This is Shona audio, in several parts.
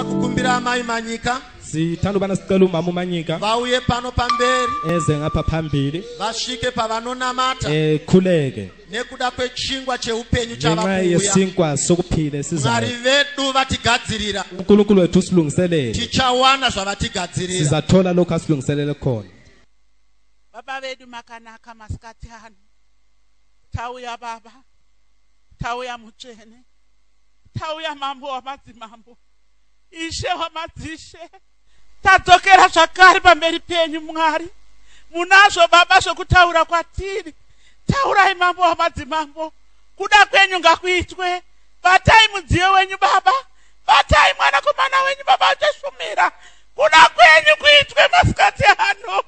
kukumbira amai manyika sithanda ubana sicela umama umanyika vauye pano pamberi eze ngapha phambili vasvike pavanonamata ekhuleke eh, nekuda kwechingwa cheupenyu chavauyesinkwa sokuphila esizamwari vedu vatigadzirira unkulunkulu wethu usilungiselele tichawana zvavatigadzirira sizathola lokhu asilungiselele khona baba vedu makanaka masikati ano tauya baba tauya mutsvene tauya mambo wamadzimambo ishe wamadzishe tadzokera zvakare pamberi penyu mwari munazvo baba zvokutaura kwatiri taurai mambo wamadzimambo kuda kwenyu ngakuitwe batai mudziyo wenyu baba batai mwanakomana wenyu baba uchashumira kuda kwenyu kuitwe masikati ano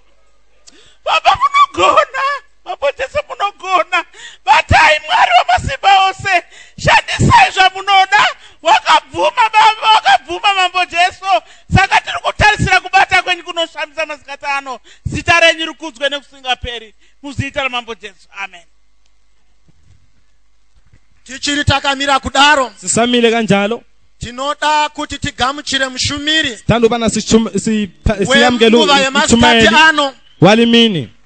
baba munogona Mambo Jesu munogona, batai Mwari wamasimba ose, shandisai zvamunoda. Wakabvuma Baba, wakabvuma Mambo Jesu, saka tiri kutarisira kubata kwenyu kunoshamisa masikati ano. Zita renyu rikudzwe nekusingaperi, muzita raMambo Jesu, amen. Tichiri takamira kudaro, sisamile kanjalo tinoda kuti tigamuchire mushumiri tandobana siyamukela uchumayeli walimini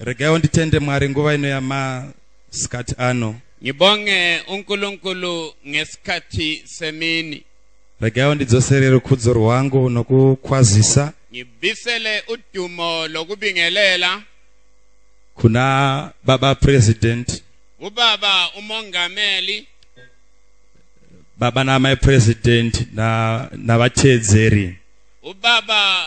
Regaiwo nditende Mwari nguva ino yamasikati ano. Ngibonge uNkulunkulu ngesikhathi semini. Regaiwo ndidzosere rukhudzo rwangu nokukwazisa. Ngibisele udumo lokubingelela. Kuna Baba President. Ubaba uMongameli. Baba naMai President na navatedzeri. Ubaba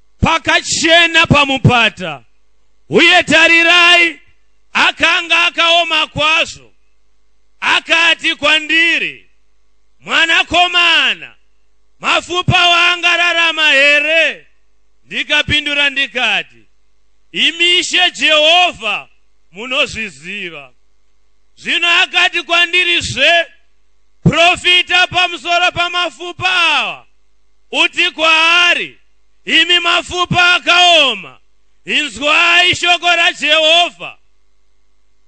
pakachena pamupata uye tarirai akanga akaoma kwazvo akati kwandiri mwanakomana mafupa waangararama here ndikapindura ndikati imi ishe jehovha munozviziva zvino akati kwandiri zve profita pamusoro pamafupa awa uti kwaari imi mapfupa akaoma inzwai shoko rajehovha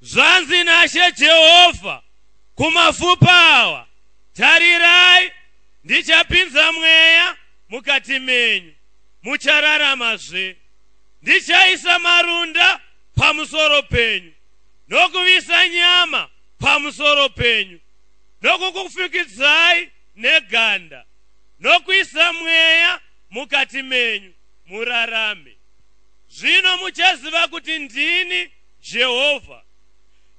zvanzi nashe jehovha kumapfupa awa tarirai ndichapinza mweya mukati menyu muchararamazve ndichaisa marunda pamusoro penyu nokuvisa nyama pamusoro penyu nokukufukidzai neganda nokuisa mweya mukati menyu murarame. Zvino muchaziva kuti ndini Jehovha.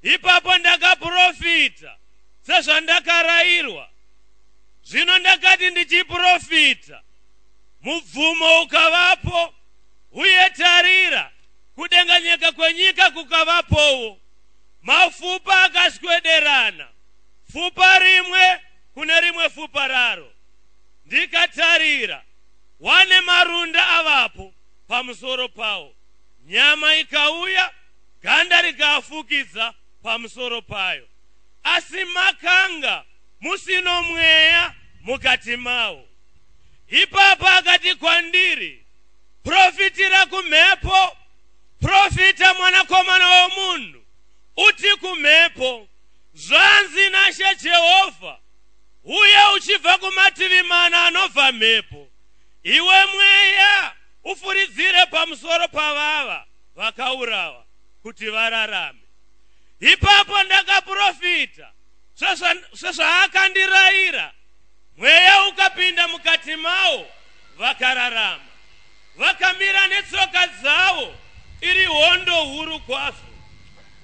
Ipapo ndakaprofita sezvandakarairwa. Zvino ndakati ndichiprofita, mubvumo ukavapo, uye tarira, kudenganyeka kwenyika kukavapowo. Mafupa akaswederana, fupa rimwe kune rimwe fupa raro, ndikatarira, wane marunda avapo pamusoro pawo, nyama ikauya, ganda rikaafukidza pamusoro payo, asi makanga musino mweya mukati mawo. Ipapo akati kwandiri, Profitira kumhepo, profita mwanakomana womunhu, uti kumhepo, Zvanzi naShe Jehovha, Huya uchibva kumativi mana anobva mhepo, iwe mweya, ufuridzire pamusoro pavava vakaurawa, kuti vararame. Ipapo ndakaprofita sezva- sezvaakandirayira, mweya ukapinda mukati mawo, vakararama. Vakamira netsoka dzawo iri hondo huru kwazvo.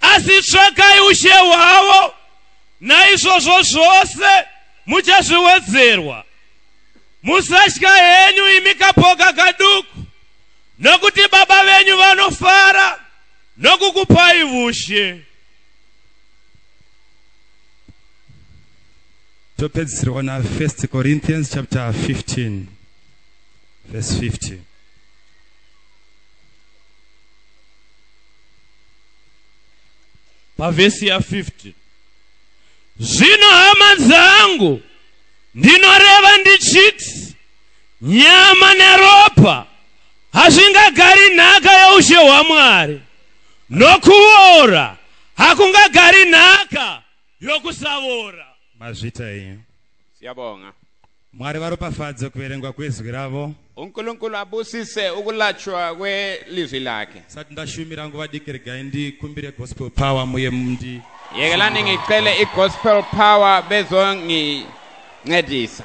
asi tsvakai ushe hwavo naizvozvo zvose muchazviwedzerwa musatya henyu imi kapoka kaduku nokuti baba venyu vanofara nokukupai vushe topedzisirwa na 1 corinthians chapter 15 verse 50 pavhesi ya15 zvino hama dzangu ndinoreva ndichiti nyama neropa hazvingagari nhaka yeushe hwamwari nokuora hakungagari nhaka yokusavora mazvita enyu siyabonga Mwari varopafadze kuverengwa kwezwi ravo. UNkulunkulu abusise ukulatshwa kwelizwi lakhe. Sati ndashumira nguva diki regai ndikumbire gospel power muye mundi. Yekelani ngicele igospel power bezongincedisa.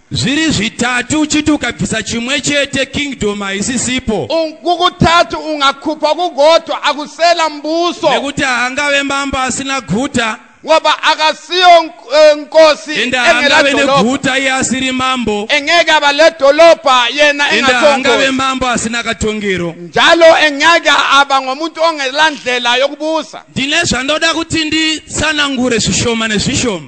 Zviri zvitatu uchiti ukabvisa chimwe chete kingdom haisisipo. Kukutatu ungakupa kugoto akusela mbuso. Nekuti haangave mambo asina guta. ngoba akasiyo eh, nkosi engelabe neguta iye asiri mambo engeke aba ledolobha yena engatongoangabe mambo asina katongero njalo engeke aba ngomuntu ongelandlela yokubusa ndine zvandoda kuti ndisanangure zvishoma nezvishoma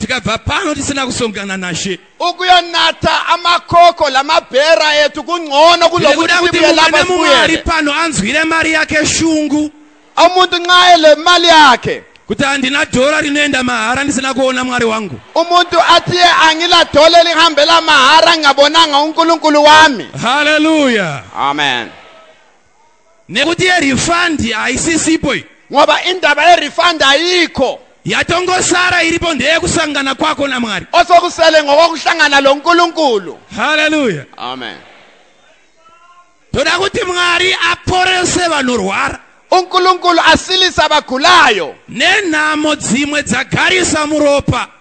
tikabva pano tisina kusongana nashe ukuyanata amakoko lamabhera etu kungcono kulokuti tibuye lapa sibuyele pano anzwire mari yake shungu umuntu nxa ele mali yakhe kuti handina dhora rinoenda mahara ndisina kuona mwari wangu umuntu atiye angila dhole lihambela mahara ngabonanga unkulunkulu wami haleluya amen nekuti yerifandi haisisipo iyi ngoba indaba yerifandi ayikho yatongosara iripo ndeyekusangana kwako namwari osokusele ngokokuhlangana lo nkulunkulu haleluya amen toda kuti mwari aporese vanorwara unkulunkulu asilisa abagulayo nenhamo dzimwe dzagarisa muropa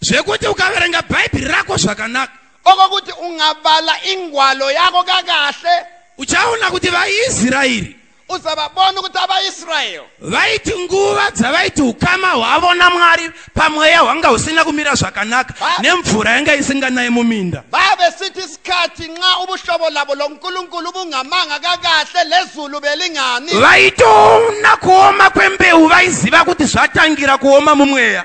zvekuti ukaverenga bhaibheri rako zvakanaka okokuti ungabala ingwalo yako kakahle uchaona kuti vaisraeri uzavabona ukuthi abaisrael vaiti nguva dzavaiti ukama hwavo namwari pamweya hwanga husina kumira zvakanaka nemvura yanga isinganaye muminda vavesithi isikhathi nxa ubuhlobo labo lonkulunkulu bungamanga kakahle lezulu belingani vaitoona kuoma kwembeu vaiziva kuti zvatangira kuoma mumweya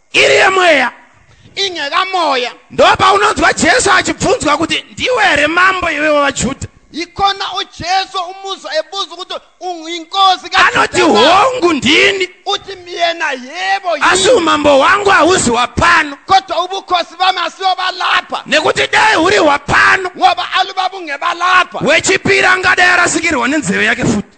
iri yemweya inge kamoya ndopaunonzwa jesu achibvunzwa kuti ndiwe here mambo iwe wavajudha ikona ujesu umuza ebuza ukuthi inkosi anoti hongu ndini uthi myena yebo asi umambo wangu hauzi wapano kodwa ubukhosi bami asiwo balapha nekuti dai huri hwapano ngoba alubaba ungebalapha wechipiri angadai arasikirwa nenzeve yake futi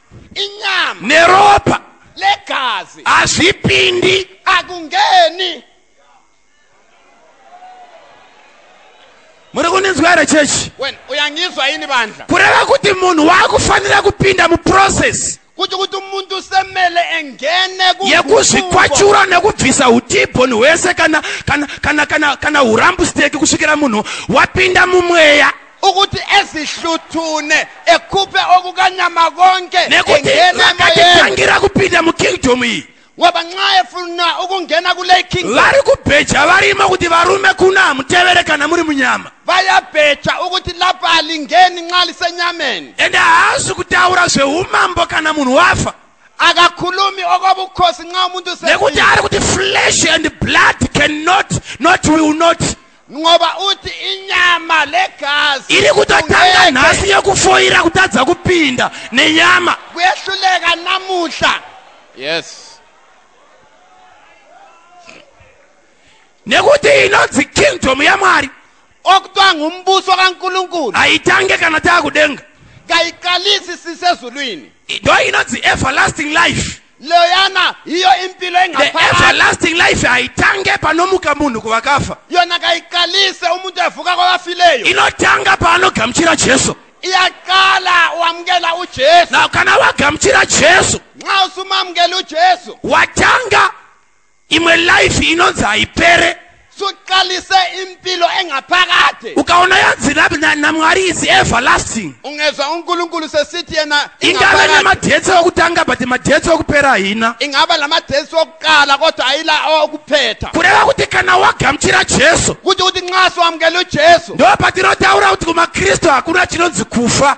inyama neropa legazi hazvipindi akungeni muri kundinzwa here chechi wena uyangizwa ini bandla kureva kuti munhu waakufanira kupinda muprocess kuti kuti umuntu semele engene yekuzvikwachura nekubvisa utibhoni hwese kana kana kana kana kana hurambusteki kusvikira munhu wapinda mumweya ukuthi ezihluthune ekhuphe okukanyama konke nekuti vakatitangira kupinda mukingdom iyi ngoba nxa efuna ukungena kule kingdom vari kubheja varimo kuti varume kuna hamutevere kana muri munyama vayabheja ukuthi lapha alingeni nxa lisenyameni ende haazi kutaura zveumambo kana munhu wafa akakhulumi okwabukhosi nxa umuntu nekuti ari kuti flesh and blood cannot not will not ngoba uthi inyama legazi iri kutotanga nhasi yekufoira kutadza kupinda nenyama kuyehluleka namuhla yes nekuti inonzi kingdom yamwari okutwa ngumbuso kankulunkulu haitange kana taakudenga kayiqalisi sisezulwini ndo inonzi everlasting life loyana hiyo impilo the engaphakathi everlasting life haitange panomuka munhu kuvakafa yona kayiqalise umuntu evuka kwabafileyo inotanga paanogamuchira jesu iyaqala wamukela ujesu now kana wagamuchira jesu nxa usumamukela ujesu watanga imwe life inonzi haipere suqalise impilo engaphakade ukaona yanzi namwari is everlasting ungezwa unkulunkulu sesithi yena ingaba namadetsi okutanga but madetsi okupera hina ingaba la madetsi okuqala kodwa ayila okuphetha kureva kuti kana wagamchira jesu kuti uthi nxa siwamukela ujesu ndoba tinotaura kuti kumakristu hakuna chinonzi kufa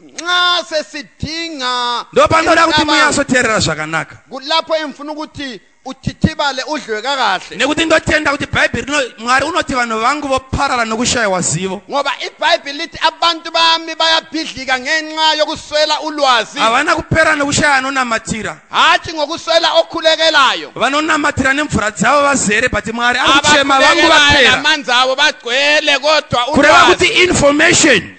nxa sesidinga ndopanoda kuti munyatsoteerera zvakanaka kulapho engifuna ukuthi uthithibale udliwe kakahle nekuti ndotenda kuti bhaibheri rino mwari unoti vanhu vangu voparara nokushayiwa zivo ngoba ibhaibheri lithi abantu bami bayabhidlika ngenxa yokuswela ulwazi havana kupera nokushaya anonamatira hatshi ngokuswela okhulekelayo vanonamatira nemvura dzavo vazere but mwari akuchema vangu vapera amanzi avo bagcwele kodwa kureva kuti information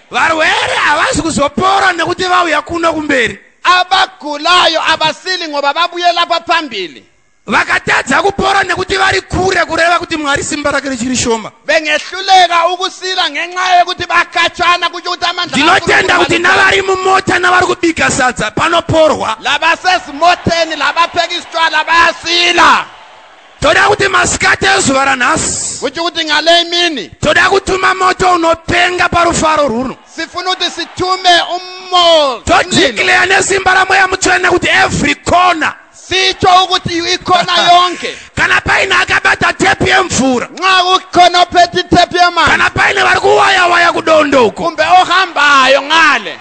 Varwere havasi kuzopora nekuti vauya kuno kumberi. Abagulayo havasili ngoba vabuyela kwaphambili. Vakatadza kupora nekuti vari kure kureva kuti Mwari simba rake richiri shoma. Bengehluleka ukusila ngenxa yekuti vakatshana kutyo kuti amandla Ndinotenda kuti navari mumota navari kubika sadza panoporwa. Labasezimoteni labapheka isitshwala bayasila. toda kuti masikati ezuva ranhasi kuchi kuti ngale imini toda kutuma moto unopenga parufaro rwuno sifuna kuti situme umo todikleya nesimba ramweya mutsvene kuti every corner sitsho ukuthi ikhona yonke kana paine akabata tepu yemvura nxa ukhona ophethe itepu yemanzi kana paine vari kuwayawaya kudondoko kumbe ohambayo ngale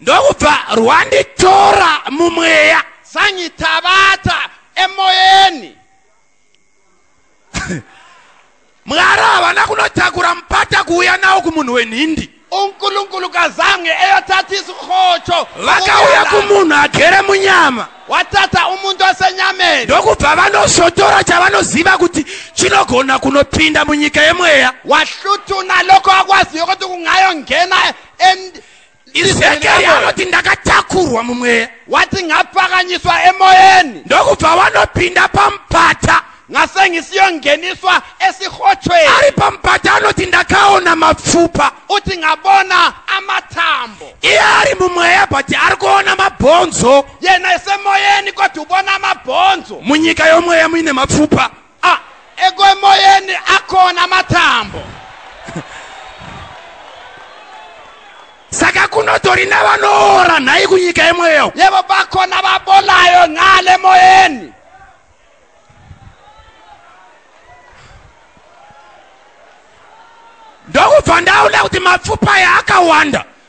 ndokubva rwanditora mumweya zvanyitabata emoyeni mwari havana kunotakura mupata kuuya nawo kumunhu wenhindi unkulunkulu kazange eyotathisa urhotsho vakauya kumunhu agere munyama wathatha umuntu wasenyameni ndokubva vanosotora chavanoziva kuti chinogona kunopinda munyika yemweya wahluthuna lokho akwaziyo ukuthi kungayongena Ezekieri anoti ndakatakurwa mumweya wati ngapfakanyiswa emoyeni ndokubva vanopinda pamupata ngasengisiyongeniswa esihotshweni ari pamupata anoti ndakaona mapfupa uthi ngabona amathambo iye ari mumweya but ari kuona mabhonzo yena esemoyeni kodwa ubona amabhonzo munyika yomweya muine mapfupa Ah, ego emoyeni akona matambo. saka kunotori navanoora nhai kunyika yemweya uku Yebo bakhona babolayo ngale emoyeni. ndokubva ndaona kuti mapfupa aya akawanda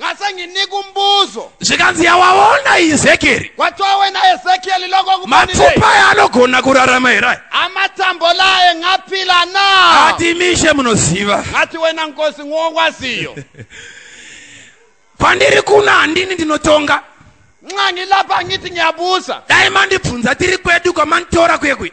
ngasange nikumbuzo zvikanzi yawaona izekeri watowena ezekieli loko mapfupa aya anogona kurarama here aya amatambo laye ngapila na ati mishe munoziva ngati wena nkosi ngokwaziyo kwandiri kuno handini ndinotonga nxa ngilapha ngithi ngiyabusa dai mandibvunza tiri kwedu kwamanditora kuye kuye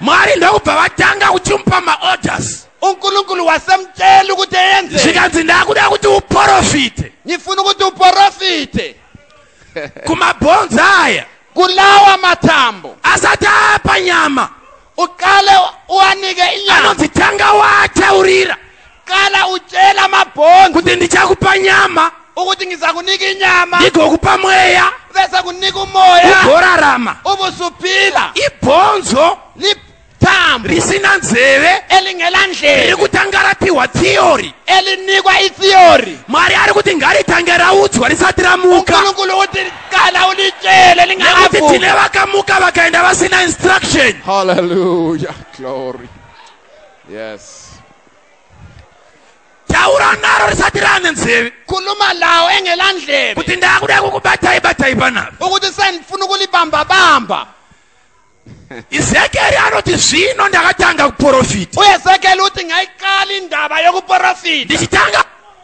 mwari ndokubva vatanga kuchimupa maorders unkulunkulu wasamtshela ukuthi eyenze zvikanzi ndakuda kuti uporofite ngifuna ukuthi uporofite kumabhonzi aya kulawa mathambo asati apa nyama uqale uwanike inyama anonzi tanga wataurira kana uchela mabhonzi kuti ndichakupa nyama ukuthi ngizakunika inyama ndigokupa mweya bese kunika umoya ugorarama ubusuphila ibhonzo lithambo risina nzeve elingela ndlela riri kutanga rapiwa theory elinikwa itheory mwari ari kuti ngaritange raudzwa risati ramuka unkulunkulu ukuthi qala ulitshele nekuti lingakavuki tine vakamuka vakaenda vasina instruction Hallelujah. Glory. Yes. taura naro risati rane nzeve khuluma lawo engela ndlebe kuti ndakuda kukubatai batai panapa ukuthi sendifuna ukulibambabamba ezekieli anoti zvino ndakatanga kuporofita uezekieli uti ngaiqala indaba yokuporofita ndichitanga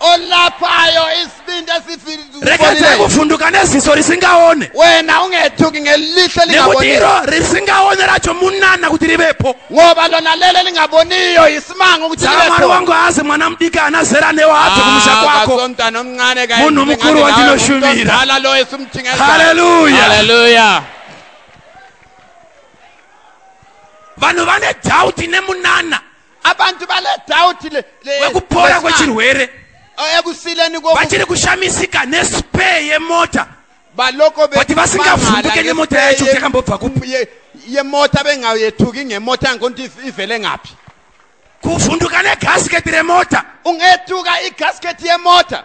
olapayo isibindi esifireeka ndakuvhunduka neziso risingaone wena ungethuki ngelihlo nekuti iro risingaone racho munana kuti rivepo ngoba lona lele lingaboniyo yisimanga ukuthi mwari wangu azi mwana mudiki ana zera newo adze ah, kumusha kwako munhu mukuru wandinoshumira haleluya vanhu vane dhauti nemunana abantu bale doubt le, le wekupora kwechirwere oh, ekusileni vachiri kushamisika nespare yemota baloko kuti vasingavhunduke nemota yacho kuti yakambobva kupi yemota bengayethuki ngemota yangokuti ivele ngaphi kuvhunduka negasketi remota ungethuka igasketi yemota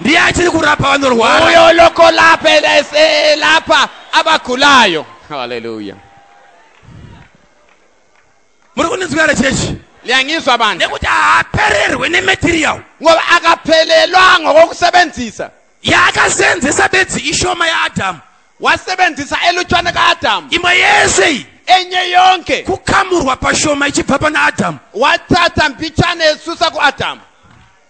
ndiye achiri kurapa vanorwara uyo lokolapa elapa abagulayo haleluya muri kundinzwira here chechi liyangizwa vanhu nekuti haapererwe nematerial ngoba akaphelelwa ngokokusebenzisa yaakasenzisa bedzi ishoma yaadhamu wasebenzisa elutshwane kaadhamu imwe yese iyi enye yonke kukamurwa pashoma ichibva pana adhamu wathatha mbitshane esusa kuadhamu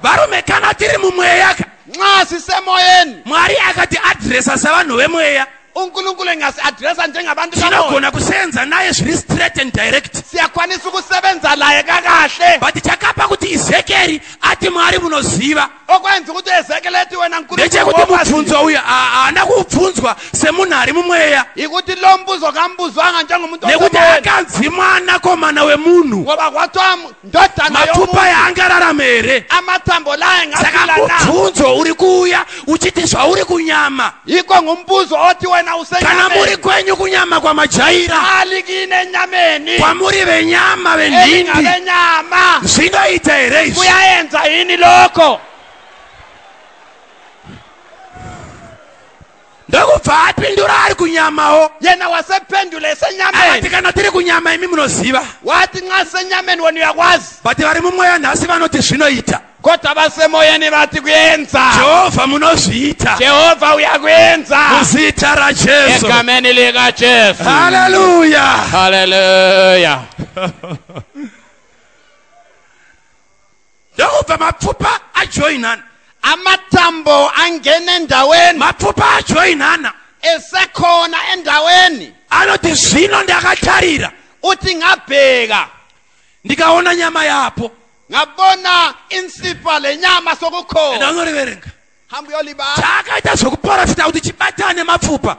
varume kana tiri mumweya ka nxa sisemoyeni mwari akati adresa savanhu vemweya unkulunkulu engasi adresa njengabantu tinogona kusenza naye zviri straight and direct siyakwanisa ukusebenza laye kakahle but chakapa kuti izekeri ati mwari munoziva okwainzi kuti ezekeleti wena nkulu ndechekuti mubvunzo uyu haana kubvunzwa semunhu ari mumweya ikuti lo mbuzo kambuzwanga njengomuntu nekuti akanzi mwana komana wemunhu ngoba kwatwa ndodana mapfupa yaangararame here amatambo laye ngasaka mubvunzo uri kuuya uchiti zvauri kunyama Iko ngumbuzo oti wena usenyama. Kana muri kwenyu kunyama kwa majaira. Ali kine nyameni. Kwa muri ve nyama ve ndindi. Eka ve nyama. Zinga ita ereis. Kuya enza ini loko. Ndaku vaa pindura ari kunyama o. Yena wa se pendule se nyameni. Awati kana tiri kunyama imi munoziva. Wati nga se nyameni wani ya wazi. Bati wari mumwe ya nasi vanoti zvino ita. Kota vasemoya nevati kuenza. Jehovha munozviita. Jehovha uya kuenza. Muzita raJesu. Egameni lika Jesu. Haleluya. Haleluya. Ndokubva mapfupa ajoinana. Amatambo angene ndaweni. Mapfupa ajoinana. Esekhona endaweni. Anoti zvino ndakatarira. Uti ngabheka. Ndikaona nyama yapo. ngabona insipa lenyama and sokukhona anoriverenga hamba uyolibala chaakaita zvekuporofita kuti chibatane nemapfupa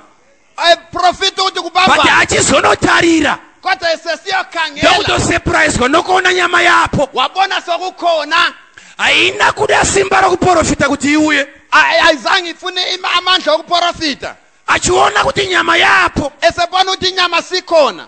profita kuti but kubamba achizonotarira kodwa esesiyokhangela ndokutosepuraizwa nokuona nyama yapo wabona sokukhona haina kuda simba rokuporofita kuti iuye Ay- ayizange ifune ima- amandla okuprofita achiona kuti nyama yapo esebona ukuthi inyama sikhona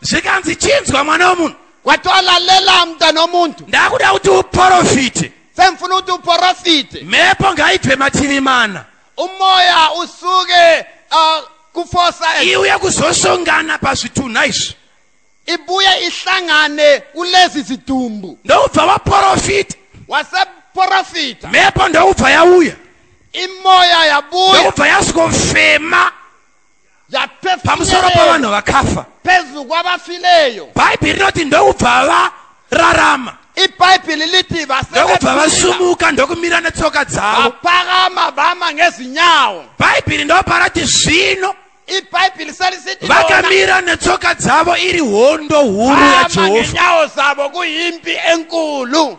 zvikanzi chinzwa mwana womunhu watolalela mntana womuntu ndakuda kuti uporofite sengifuna ukuthi uporofite mhepo ngayibve mativi mana umoya usuke uh, kufosa iuye kuzosongana pazvitunha izvi ibuye ihlangane kulezi zidumbu ndokubva waporofita waseporofita mhepo ndokubva yauya imoya yabuya ndokubva yasvikofema pamusoro pavanhu vakafa pezvu kwavafileyo bhaibheri rinoti ndokubva vararama ibhaibheri liti ndokubva vasumuka ndokumira netsoka dzavo vapakama vama ngezinyawo bhaibheri ndoparati zvino ibhaibheri serisiti vakamira netsoka dzavo iri hondo huru yajehovaenyawo dzavo kuimbi enkulu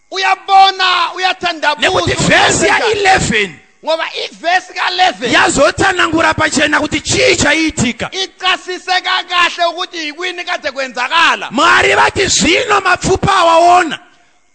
uyabona uyathandabuzanekuti vhesi ya 11 ngoba ivhesi ka-11 yazotsanangura pachena kuti chii chaiitika icasiseka kahle ukuthi yikwini kade kwenzakala mwari vati zvino mapfupa awaona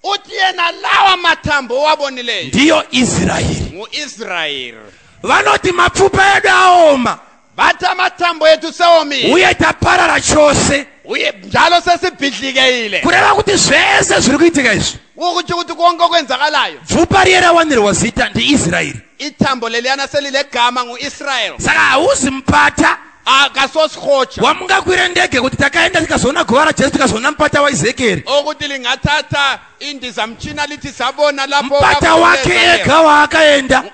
uthi yena lawa mathambo owabonileyo ndiyo israyeli ngu-israyeli vanoti mapfupa edu aoma Bata matambo edu seomile. Uye taparara chose. Uye njalo sesibhidlikeile. Kureva kuti zvese zviri kuitika izvi. Ukuti kuti konke okwenzakalayo. Bvupa riye rawanirwa zita ndiIsraeri. Itambo leliyana selilegama nguIsraeri. Saka hauzi mpata. akasosikotsha wamungakwira ndege kuti takaenda tikazoona guva rajesu tikazoona mupata waezekieri okuti lingathatha indizamtshina lithi sabona lapho mpata wakhe ega waakaenda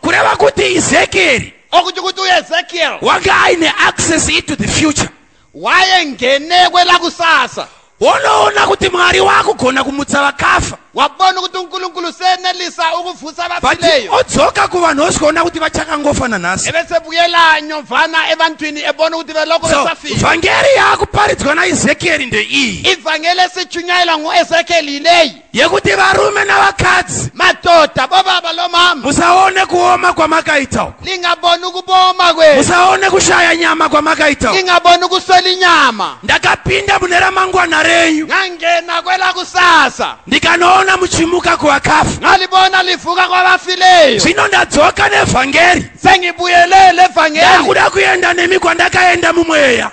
kureva kuti ezekieri okuti kuti uezekiel wanga aine access into the future wayengenekwe lakusasa wonoona kuti mwari wakugona kumutsa vakafa wabona kuti unkulunkulu senelisa ukuvutsa vafileyo odzoka kuvanhu osikaona kuti vachakangofa nanhasi evesebuyela nyovana evantwini ebona kuti veloko vesafile vhangeri yakuparidzwa naezekieri ndeiyi ivhangeri esichunyayela nguezekieli yileyi yekuti varume navakadzi madhodha bobaba lomama musaone kuoma kwamakaita uku lingaboni kuboma kwe musaone kushaya nyama kwamakaita uku lingaboni kuswela inyama ndakapinda mune ramangwana renyu ngangena kwela kusasa ndikanoona muchimuka kuvakafa ngalibona livuka kwavafileyo zvino ndadzoka nevhangeri sengibuyelele vhangeri ndakuda kuenda nemi kwandakaenda mumweya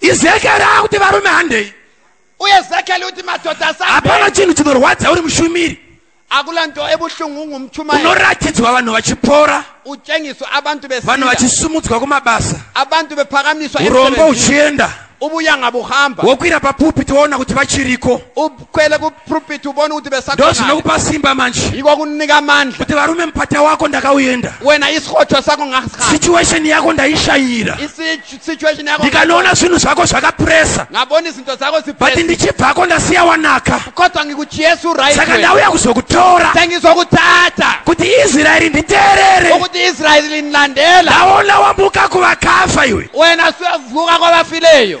ezekieri akuti varume handei uye ezekieri uti madhodha asa hapana chinhu chinorwadza uri mushumiri akula nto ebuhlungu ungumchumayeli unoratidzwa vanhu vachipora utshengiswa abantu vanhu besila vachisumudzwa kumabasa abantu bephakamiswa urombo emsebenzini. uchienda ubuya ngabuhamba wokwira papulpiti woona kuti vachiriko ukhwele ku prophet ubone kuti besakona ndozvinokupa simba manje iko kunika amandla kuti varume mupata wako ndakauyenda wena isikhothwa sakho ngasikhala situation yakho ndayishayira situation yakho ndikanoona zvinhu zvakho zvakapressa ngabona izinto zakho zipressa but ndichibvako ndasiya wanaka kodwa ngikuchiyesu right saka ndauya kuzokutora sengizokuthatha kuti israyeli nditeerere ukuthi israyeli ndilandela ndawona wambuka kuvakafa iwe wena suyavuka kwabafileyo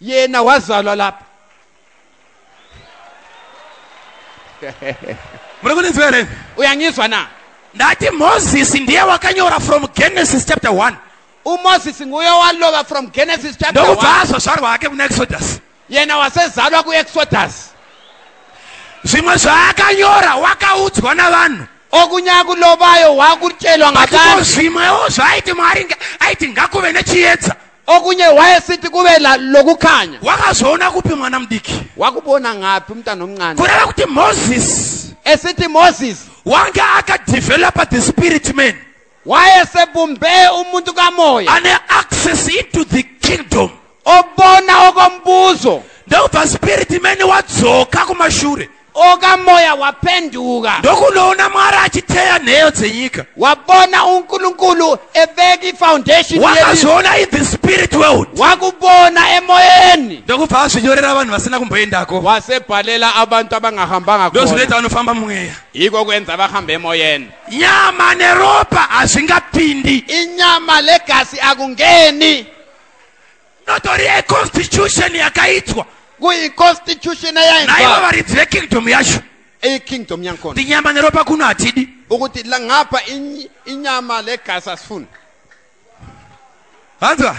yena wazalwa lapa muri kundinzwa here uyangizwa na ndati mozisi ndiye wakanyora from genesis chapter 1 umozisi nguye walova from genesis chapter ndokubva azvazvarwa hake kuna exodus yena wasezalwa kuexodus zvimwe zvaakanyora wakaudzwa navanhu okunyaya kulovayo wakutyelwa ngakazvimwewo zvaaiti mwari aiti ngakuve nechiedza okunye wayesithi kube la- lokukhanya wakazoona kupi mwana mudiki wakubona ngaphi umntana omncane kureva kuti moses esithi moses wange akadevelopa the spirit man wayesebumbe umuntu kamoya ane access into the kingdom obona okombuzo ndokubva spirit man wadzoka kumashure oka moya wapenduka ndokunoona mwari achiteya nheyo dzenyika wabona unkulunkulu eveki foundation wakazoona in the spirit world wakubona emoyeni ndokubva azvinyorera vanhu vasina kumboendako wasebhalela abantu abangahambanga ndozvinoita vanofamba mweya iko kuenza vahambe emoyeni nyama neropa hazvingapindi inyama legasi akungeni Inotori a constitution yakaitwa. Kuyi constitution yainzwa. Naivo varidzi vekingdom yacho. Iyi kingdom yankona. Ndi nyama neropa kuno hatidi. Ukuti la ngapa inyama legazi asifuni. Vanzwa?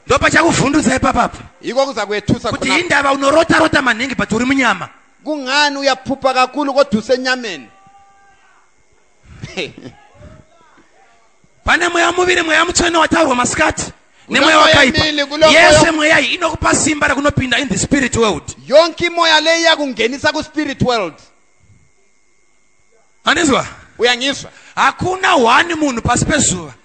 Ndopachakuvhundutsa ipapa apa. Iko kuza kuetusa kuti indava unorota rota maningi but uri munyama. Kungani uyaphupa kakulu koduse nyameni. pane mweya muviri mweya mutsvene wataurwa masikati nemweya wakaipa yese mweya iyi inokupa simba rekunopinda in the spirit world yonke imoya leyi yakungenisa kuspirit world andizwa uyangizwa hakuna one munhu pasi pezuva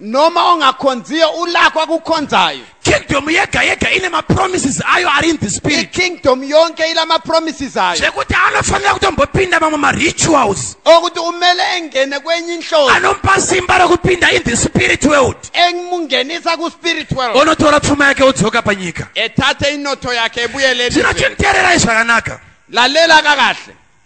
noma ungakhonziyo ulakwa kukhonzayo kingdom yega yega ine mapromises ayo ari in the spirit ikingdom yonke ila mapromises ayo zvekuti anofanira kutombopinda mamwe marituals okuti umele engene kwenye inhloso anomupa simba rokupinda in the spirit world emungenisa kuspirit world onotora pfuma yake odzoka panyika ethathe inotho yakhe ebuyele zvino chinteererai zvakanaka lalela kakahle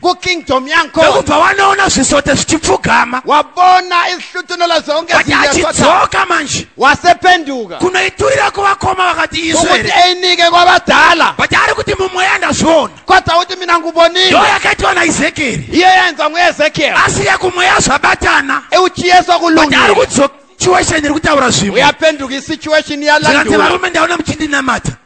kukingdom yankona ekubva wanoona zvisote zvichipfugama wabona izihlutunola zonke achidzoka manje wasependuka kunoiturira kuvakoma vakati izvekuti einike kwavadhala but ari kuti mumweya ndazviona kodza kuti mina ngubonile ndo yakaitwa naezekeri iye yaenza muezekieri asi yekumweya zvabatana euchiyeswa kulungati ari kudzoka situation iri kutaura zvimwe uyapenduka isituation yalandiwa varume ndaona muchindinamata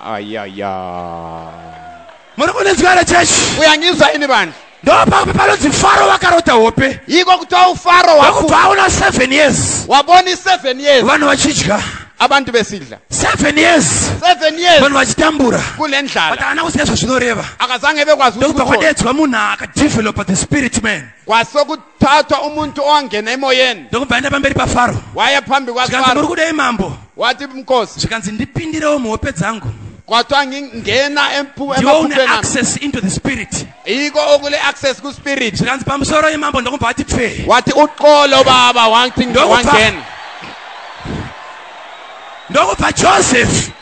Ayaya. Muri kundinzwa here chechi? Uyanginzwa ini vanhu. Ndopapi panonzi Faro vakarota hope. Iko kutwa uFaro waku. Vakubva aona 7 years. Waboni 7 years. Vanhu vachidya. abantu besidla seven years seven years vanhu vachitambura kule ndlala but haana kuziva zvazvinoreva akazange bekwazi ukuthi kudedzwa munhu akadevelopa the spirit man kwasokuti tatwa umuntu owangena emoyeni ndokubva aenda pamberi pafaro waya pambi kwazikanzi muri kudei mambo wati mkosi zvikanzi ndipindirewo muhope dzangu kwatwa ngingena ndiwo une access into the spirit iko okule access kuspirit zvikanzi pamusoro imambo ndokubva wati pfe wati uqolo baba wangena ndokubva joseph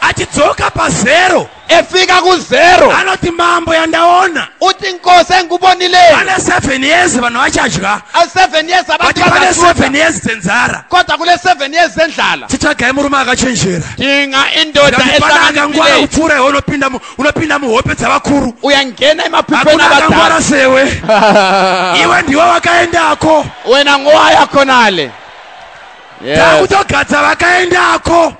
achidzoka pazero efika kuzero anoti mambo yandaona uti nkosi engubonilei pane seven years vanhu vachadya seven years abaane seven years dzenzara kodwa kule seven years dzendlala titsvagai murume akachenjera tinga indodaangangwara kupfuura iwe unopinda muhope dzavakuru uyangena emapipenaangwara sewe iwe ndiwe wakaendako wena ngowa yakonale takutogadza vakaendako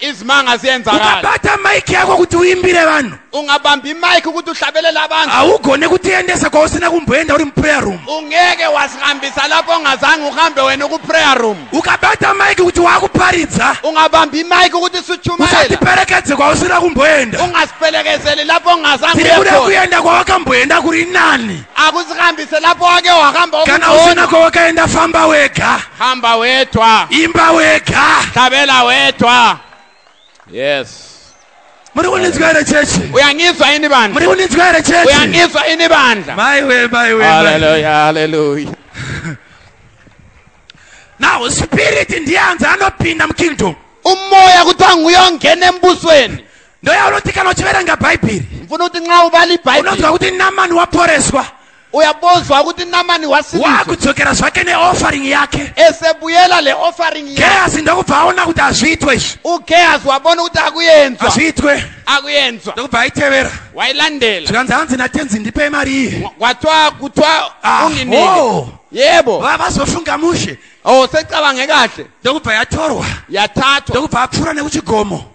izwi angazienza kale ukabata mike yako kuti uimbire vanhu ungabambi mike kuti uhlabelela abantu haugone kutiendesa kwausina kumboenda uri muprayer room ungeke wasihambisa lapho ungazange uhambe wena kuprayer room ukabata mike kuti wakuparidza ungabambi mike ukuthi sutshumayela usatiperekedze kwausina kumboenda ungasipelekezeli lapho ungazange tiri kuda kuenda kwawakamboenda kuri nani akusihambise lapo wake wakamba kana usina kwawakaenda famba wega hamba wetwa imba wega tabela wetwa yes muri kuninzwa here chechi uyangizwa ini bandla muri kuninzwa here chechi uyangizwa ini bandla maiwe maiwe haleluya haleluya now spirit ndiye anzi anopinda mukingdom umoya kuti anguyo ngene mbusweni ndoyaunoti kana uchiverenga bhaibheri ndifuna kuti nxa ubala ibhaibheri unonzwa kuti namani waporeswa uyabozwa ukuthi namani wakudzokera zvake neoffering yake esebuyela le offering gehazi ndokubva aona kuti hazviitwe izvi ugehazi wabona ukuthi akuyenzwa hazviitwe akuyenzwa ndokubva ayitevera wayilandela zvikanzi hanzi natenzi ndipe imari iyi kwathiwa kuthiwa ah, unginike oh. yebo vazofunga mushe o oh, secabanga kahle ndokubva yatorwa yathathwa ndokubva apfuura nekuchigomo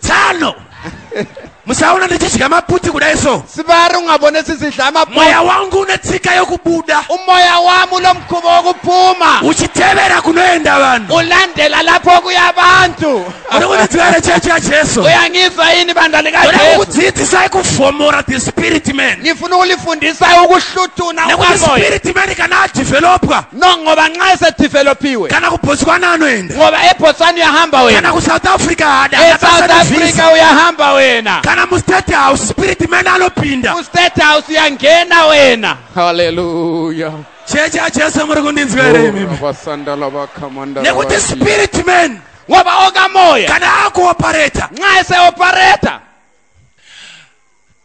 tsano musaona ndichidya maputi kudai so sivari ungabone sisidla maputi mweya wangu une tsika yokubuda umoya wami unomkhuba wokuphuma uchitevera kunoenda vanhu ulandela lapho kuya abantu unokunitwere chechi yajesu uyangizwa yini bandla likajesu kukudzidzisai kufomora the spirit man ngifuna ukulifundisa ukuhluthuna nekuti spirit man kana adevelopwa No, ngoba nxa esedevelopiwe kana kubotswana anoenda ngoba ebotswana uyahamba kana wena kusouth africa haada esouth Akabasa africa nevisa. uyahamba wena kana mustate house spirit man anopinda kustate house uyangena wena haleluya chechi yajesu muri kundinzwa here imimi vasandala vakamanda nekuti spirit man ngoba oka moya kana akuopareta nxa eseopareta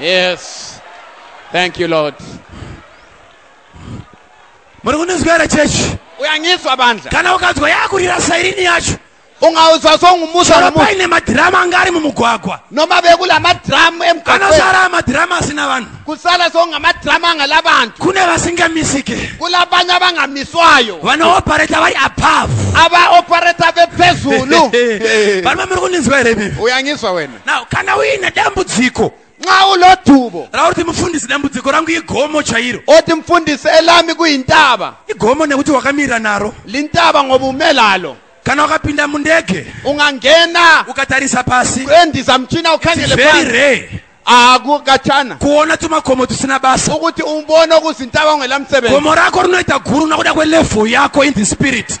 Yes. Thank you, Lord. muri kundinzwa here chechi Uyangizwa bandla. kana ukanzwa yakurira sairini yacho Ungawuzwa songumusa chero ngomusa. paine madhirama anga ari mumugwagwa Noma bekula madrama emgaqweni. anosara madhirama asina vanhu Kusala songamadrama angalabantu. kune vasingamisike Kulabanye abangamiswayo. vanooperator vari above Aba operator bephezulu. vanova muri kundinzwa here bibi Uyangizwa wena. now kana uine dambudziko nxa ulodubo rauri kuti mufundisi dambudziko rangu igomo chairo oti mfundisi elami kuyintaba igomo nekuti wakamira naro lintaba ngoba ume lalo kana wakapinda mundege ungangena ukatarisa pasi kuendisa mchina ukhangele very rare akukatshana kuona tumagomo tusina basa ukuthi umbone okuzintaba ungelamsebenzi gomo rakho rinoita guru nakuda kwelevel yakho in the spirit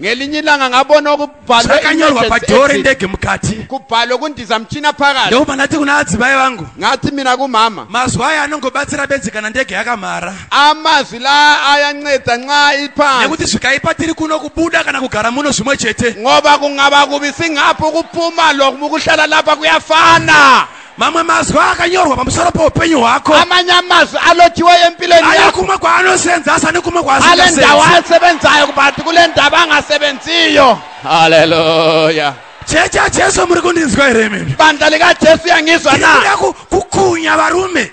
ngelinye ilanga ngabona kubhalwakanyorwa padhoo rendege mukati kubhalwa kundiza muchina pakati ndokubva ndati kuna adzivai vangu ngati mina kumama mazwi aya anongobatsira bedzi kana ndege yakamhara amazwi la ayanceda nxa iphansi nekuti zvikaipa tiri kuno kubuda kana kugara muno zvimwe chete ngoba kungava kubi singaphi ukuphuma lokuhlala lapha kuyafana mamwe mazwi akanyorwa pamusoro poupenyu hwako amanye amazwi alotiwa empilweni ayo yakho kumwe kwaanosenzasa nekumwe ale ndawo kwaasingasenzi asebenzayo kubati kule ndaba angasebenziyo haleluya chechi yajesu muri kundinzwa here imimi bandla likajesu yangizwa na ndikuda kukunya varume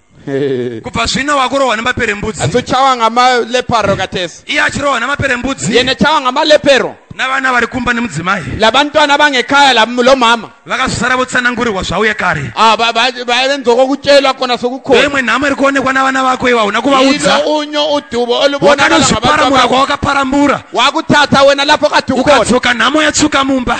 kubva zvino wakurohwa nemaperembudzi asi uchawa ngamaleparo katese iye achirohwa nemaperembudzi yene chawa ngamalepero navana vari kumba nemudzimai labantwana bangekaya lo mama vakazosara votsanangurirwa zvauye kare ah, vaive nzoko kutyelwa kona sokukhona imwe nhamo iri kuonekwa navana vako iva hauna kuvaudza unyo udubo olubonakanozviparamura kwawakaparambura wakutata wena lapho katukona ukadzoka nhamo yatsuka mumba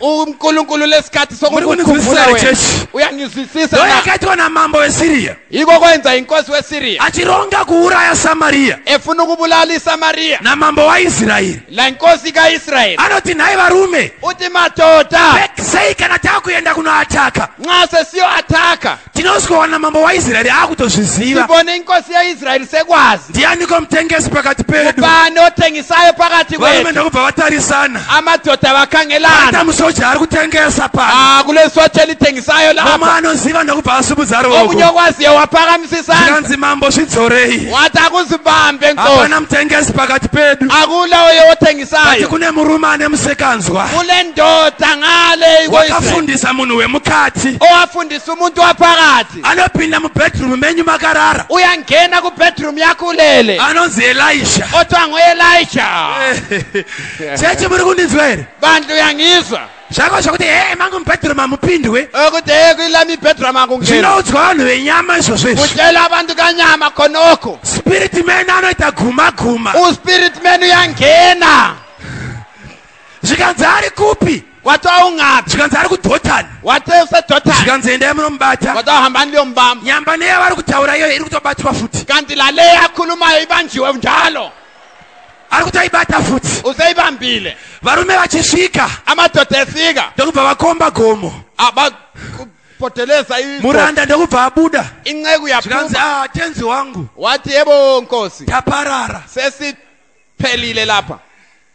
unkulunkulu lesikhathi Muri kunizwisisa here, church? Lo uyanizwisisa na? yakaitwa namambo wesiriya iko kwenza inkosi wesiriya achironga kuuraya samariya efuna ukubulala isamariya namambo waisraeri la inkosi kaisrayeli anoti nhai varume uti madoda sei kana tava kuenda kunoataka nxa sesiyoataka tinozoona mambo waisraeri aakutozviziva tivone inkosi yaisraeri sekwazi ndianiko mutengesi pakati pedu ubani otengisayo pakati varume ndokubva vatarisana amadhodha vakangelana musoja ari kutengesa pa ah, kule soja litengisayo lama anoziva ndokubva asumudza ruoko omunyokwazi yewapakamisisanaanzi mambo zvidzorei wati akuzibambe nkosihapana mutengesi pakati pedu akula oyo otengisayo ati kune murume ane musekanzwa kule ndoda ngale wakafundisa munhu wemukati owafundisa Mfundisi umuntu waphakathi anopinda mubedroom menyu makarara uyangena kubedroom yakho ulele anonzi elisha othiwa ngoelisha chechi muri kundinzwa here bandla uyangizwa zvako zvokuti he mangu mubedroom hamupindwe okuti he kuila mibedroom akungena zvinoudzwa vanhu venyama izvozvo izvi kutela abantu kanyama khonokho spirit man anoita guma guma uspirit man uyangena zvikanzi ari kupi wati waungaphi zvikanzi ari kudhotani wati usedhotani zvikanzi endai munomubata wati wahambani liyombamba nyamba neyavari kutaura iyoyo iri kutobatwa futi kanti laleyo akhulumayo ibanjiwe njalo ari kuti aibata futi useibambile varume vachisvika amadoda efika ndokubva vakomba gomo poteleza muranda ndokubva abuda inceku yakanzi ah, tenzi wangu wati yebo nkosi taparara sesiphelile lapha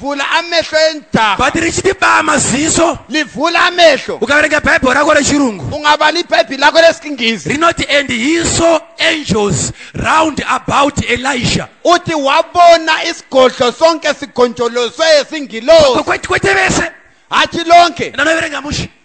vhula amehlo enjaha but richiti baa maziso livhula amehlo ukaverenga bhaibheri rako rechirungu ungava libhaibheri lako lesingisi rinoti and he saw angels round about elisha uti wabona isigodlo sonke sigonjoloswe singilosi kwete vese hachi lonke ndanoverenga mushe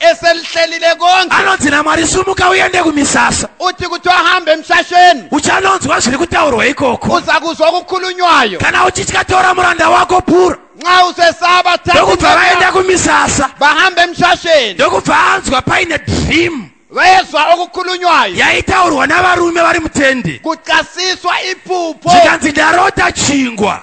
eselihlelile konke anonzi namwari sumuka uyende kumisasa uthi kuthi wahambe emshasheni uchanonzwa zviri kutaurwa ikoko uza kuzwa okukhulunywayo kana uchitya tora muranda wako pura nxa usesaba ndokubva vaenda kumisasa bahambe emshasheni ndokubva anzwa paine dream vayezwa okukhulunywayo yaitaurwa navarume vari mutende kucasiswa iphupho zvikanzi ndarota chingwa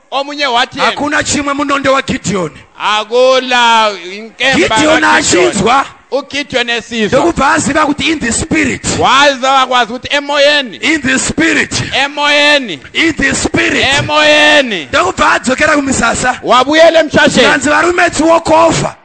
omunye wathi yena hakuna chimwe munondo wagidhiyoni akula inkemba gidhiyoni achinzwa ugidhiyoni esizwa ndokubva aziva kuti in the spirit waziva wakwazi kuti emoyeni in the spirit emoyeni in the spirit emoyeni ndokubva adzokera kumisasa wabuyela emshasheni anzi varume tsiwokofa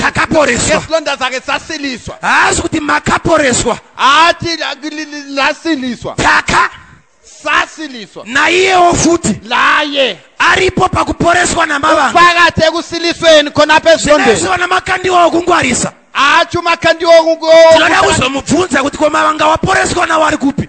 takaporeswa nezilonda dzake dzasiliswa haasi kuti makaporeswa haati lasiliswa taka sasiliswa naiyewo futi laye aripo pakuporeswa namavanga pakati ekusilisweni khona pezilondezivana makandiwa okungwarisa acho makandiwa okungwarisa tinoda kuzomubvunza kuti komavanga waporeswa nawo ari kupi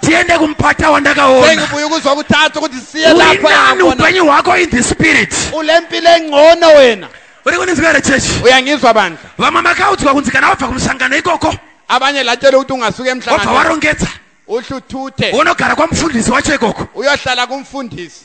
tiende kumupata wandakaona sengibuye ukuzwa kutatu kuti siye lapha urinani yakona upenyu hwako in the spirit ulempilo engcono wena uri kundinzwa here chechi uyangizwa bandla vamwe makaudzwa kunzi kana wabva kumusangano ikoko abanye latshele ukuthi ungasuka wabva emhlanganweni warongedza uhluthuthe unogara kwamufundisi wacho ikoko uyohlala kumfundisi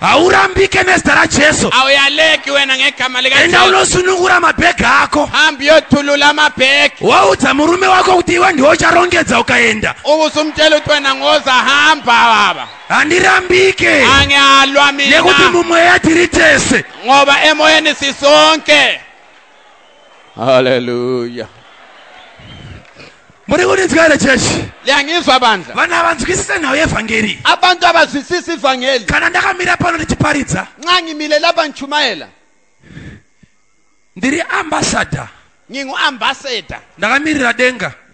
haurambike nezita rajesu awuyaleki wena ngegama enda likajesu unosunungura mabhegi ako hambi yothulula amabheki waudza murume wako kuti iwe ndiwe ucharongedza ukaenda ukuze umtshela ukuthi wena ngoza hamba baba handirambike angihalwa nekuti mina mumweya tiri tese ngoba emoyeni sisonke haleluya muri kundinzwa here chechi liyangizwa bandla vanhu havanzwisise nhau yevhangeri abantu abazwisisi ivhangeli kana ndakamira pano ndichiparidza nxa ngimile lapha ngitshumayela ndiri ambassador nginguambassador ndakamirira denga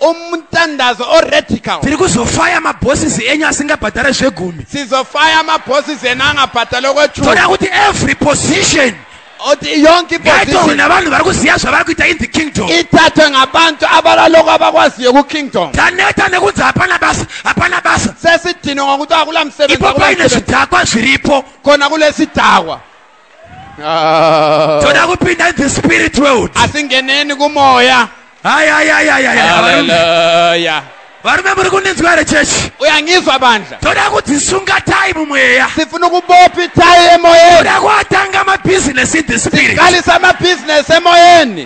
umtandazo oradical tiri kuzofaya mabosses enyu asingabhadhare zvegumi sizofaya mabosses enu angabhadhare kwechuu toda kuti every position oti yonke iposition navanhu vari kuziva zvavari kuita in the kingdom ithathwe ngabantu abalaloko abakwaziyo kukingdom taneta nekunzi hapana basa hapana basa sesidinwe ngokuti akula msebenzi ipo paine zvidhakwa zviripo khona kulesidhakwa Ah. toda kupinda in the spirit world asi ngeneni kumoya ayayayayayavarume varume muri kundinzwa here chechi uyangizwa bandla toda kudzisunga tai mumweya sifuna ukubopi tai emoyeni toda kuatanga mabhizinesi in the spirit tikalisa mabhizinesi emoyeni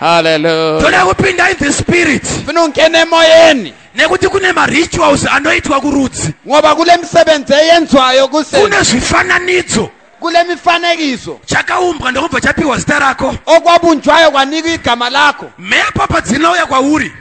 haleluya toda kupinda in the spirit funa ungene emoyeni nekuti kune marituals anoitwa kurudzi ngoba kule misebenzi eyenzwayo kuse kune zvifananidzo kule mifanekiso chakaumbwa ndokubva chapiwa zita rako okwabunjwayo kwanikwa igama lako mhepo padzinouya kwauri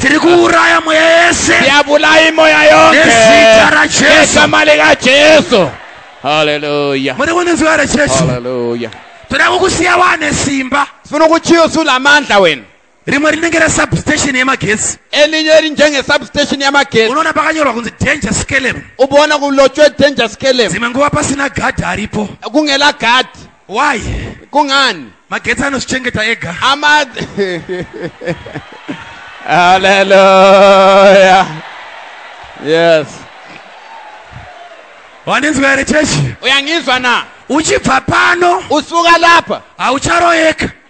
tiri kuuraya mweya yese ndiyabulai moya yonke Nezita raJesu. nezama likajesu haleluya muri kunzwa here chechi haleluya toda kukusiya wane simba sifuna ukuthiya usulamandla wena rimwe rinenge resubstation yemagetsi elinye elinjengesubstation yamagesi unoona pakanyorwa kunzi danger skelem ubona kulotshwe danger skelem dzimwe nguva pasina gadhi aripo kungela gadi why kungani magetsi anozvichengeta ega ama haleluya yes wandinzwa here chechi uyangizwa na uchibva pano usuka lapa haucharoyeka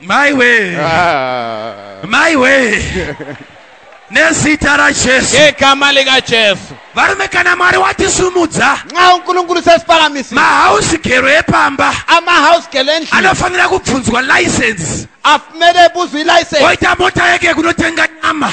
Mai wee. Ah. Mai wee. nezita rajesu yeka mali kajesu varume kana mwari watisumudza nxa unkulunkulu sesipalamisi mahouse gero epamba amahouse gero endlini anofanira kubvunzwa license afumele ebuzwa ilicense oita mota yeke kunotenga nyama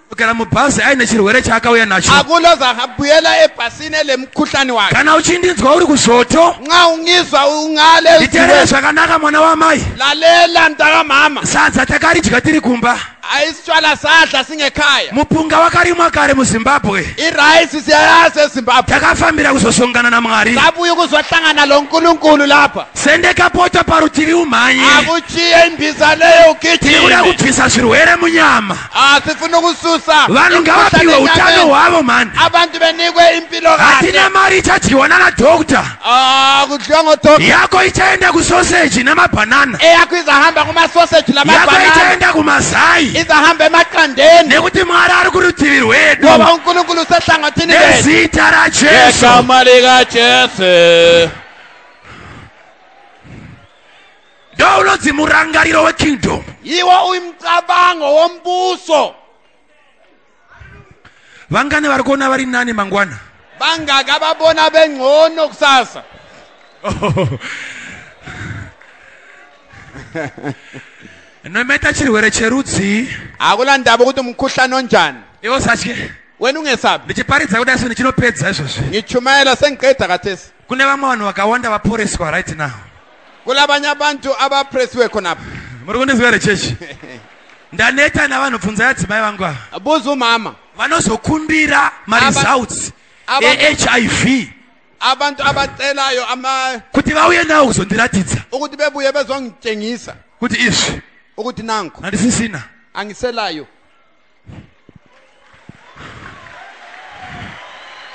kugara mubhazi aine chirwere chaakauya nacho hakuna zakabuyela ebhasini elemkhuhlane wakhe kana uchindinzwa uri kuzvoto nxa ungizwa ungale nditerere zvakanaka mwana wamai lalela mntakamama sadza takaridya tiri kumba ayisitshwala sadla singekhaya mupunga wakarimwa kare muzimbabwe irayisi siyayazi ezimbabwe takafambira kuzosongana namwari sabuya ukuzohlangana lo nkulunkulu lapha sende kapota parutivi umhanye akuchiye imbiza leyo ugijime tiri kuda kubvisa zvirwere munyama asifuna ukususa vanhu ngavapiwe utano hwavo mani abantu benikwe impilo hatina mari ichadyiwa nana doctor ah, kudyiwa ngodoctor yako ichaenda kusoseji nemabhanana eyako izahamba kumasoseji yako ichaenda kumazai izahamba emaqandeni nekuti mwari ari kurutivi rwedu ngoba unkulunkulu usehlangothini nezita rajesu egama likajesu ndounonzi murangariro wekingdom iwo uyu mucabango wombuso vangani vari kuona vari nani mangwana vangaka vabona vengcono kusasa nomaita chirwere cherudzii hakuna ndava kuti mukhuhlani onjani iwo satye wena ungesabi ndichiparidza kudai so ndichinopedza izvozvi ngichumayela sengiqeda kathesi Kune vamwe vanhu vakawanda vaporeswa right now. Kula abanye abantu abapresiwe khona apha. Muri kundizwa here chechi? Ndaneta navanhu bvunzai adzimai vangu ava. Buza umama. Vanozokumbira maresults eHIV. Abantu abacelayo ama kuti vauye nawo kuzondiratidza. Ukuthi bebuye bezongitshengisa. Kuti izvi. Ukuthi nanku. Andisisina. Angiselayo.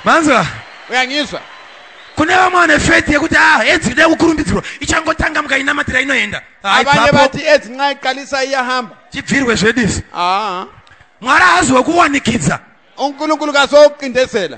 manzwa uyanyiswa kune vamwe vane faith yekuti a ah, edzi kuda kukurumbidzirwa ichangotanga mukainamatira inoenda avane vati edzi nxa iqalisa iyahamba chibvirwe zvedu izvi mwari haazi wekuwanikidza unkulunkulu kazoqindezela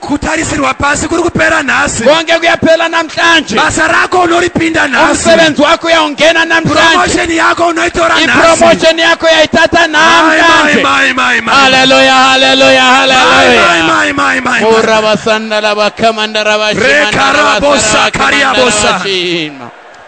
kutarisirwa pasi kuri kupera nhasi konge kuyapela namhlanje basa rako unoripinda nhasi umsebenzi wako uyaungena namhlanje promotion yako unoitora nhasi ipromotion yako yaitata namhlanje mai mai mai haleluya haleluya haleluya mai mai mai mai ora vasandala vakamandara vashimana reka rabosa kariabosa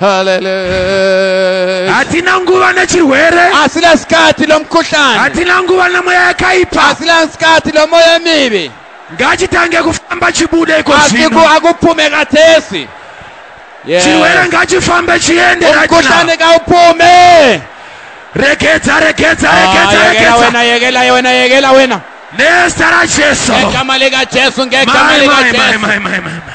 Hallelujah. hatina nguva nechirwere Asina sikati lomkhuhlane. hatina nguva nemweya yakaipa Asina sikati lomoya mibi. ngachitange kufamba chibude iko Asiku zvino akuphume kathesi. Yes. chirwere ngachifambe chiende right now. Umkhuhlane kawuphume. regedza regedza Ah, regedza Yekela regedza wena, yekela wena, yekela wena. nezita rajesu Ngegama lika Jesu, ngegama Mai, lika mai, mai, Jesu. mai, mai, mai, mai.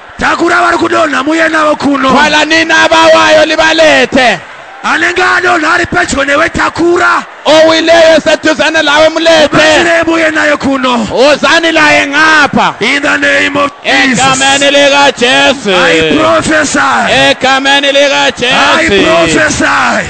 Takura vari kudonha muye navo kuno. Twala nina vawayo livalete. Anenge adonha ari pedyo newe takura. Owileyo eseduzane lawe mulete. Batsirei muye naye kuno. Uzani laye ngapha. In the name of Jesus. Egameni likaJesu. I prophesy. Egameni likaJesu. I prophesy.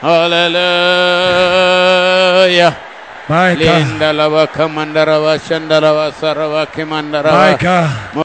Hallelujah. My God. Linda lava kamandara vashandara vasara vakimandara. My God.